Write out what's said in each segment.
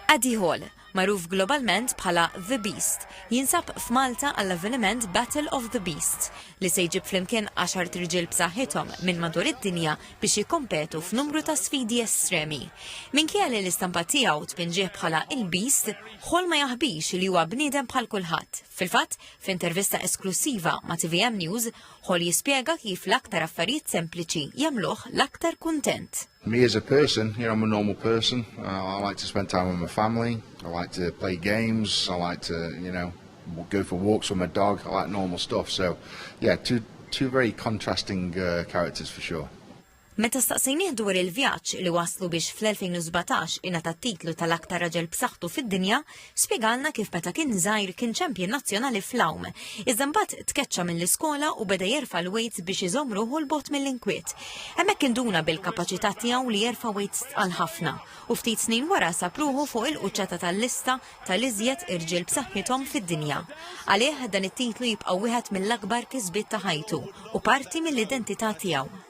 Eddie Hall, magħruf globalment bħala The Beast, jinsab f'Malta għall-avveniment Battle of the Beasts, li se jġib flimkien għaxart rġiel b'saħħithom minn madur id-dinja biex jikkompetu f'numru ta' sfidi estremi. Minkejja li l-istampa tiegħu tpinġih bħala il-Beast, Hall ma jaħbix li huwa bniedem bħal kulħadd. Fil-fatt, f'intervista esklussiva ma' TVM News, Hall jispjega kif l-aktar affarijiet sempliċi jagħmluh l-aktar kuntent. Me as a person, you know, I'm a normal person. Uh, I like to spend time with my family. I like to play games. I like to, you know, go for walks with my dog. I like normal stuff. So, yeah, two two very contrasting uh, characters for sure. Meta staqsejnih dwar il-vjaġġ li waslu biex fl-2017 ingħata titlu tal-aktar raġel b'saħħtu fid-dinja, Spjegalna kif meta kien żgħir kien champion nazzjonali fl-għawm. Iżda mbagħad tkeċċa mill-iskola u beda jerfa' l-weights biex iżomm ruħu 'l bogħod mill-inkwiet. Hemmhekk induna bil-kapaċità tiegħu li jerfa' weights tqal ħafna u ftit snin wara sab ruħu fuq il-quċċata tal-lista tal-iżjed irġiel b'saħħithom fid-dinja. Għalih dan it-titlu jibqa' wieħed mill-akbar kisbiet ta' ħajtu u parti mill-identità tiegħu.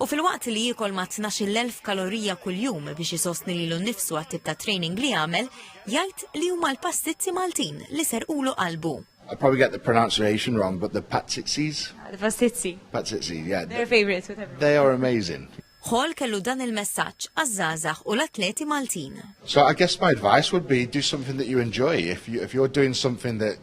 U filwaqt li jiekol ma' tnax-il elf kalorija kuljum biex isostni lilu nnifsu għat-tip ta' training li jagħmel, jgħid li huma l-pastizzi Maltin li serqulu qalbu. I probably get the pronunciation wrong but the patzitzis? The pastizzi. Patzitzis, yeah. They're a favourite with everyone. They are amazing. Hall kellu dan il-messaġġ għaż-żgħażagħ u l-atleti Maltin. So I guess my advice would be do something that you enjoy. If, you, if you're doing something that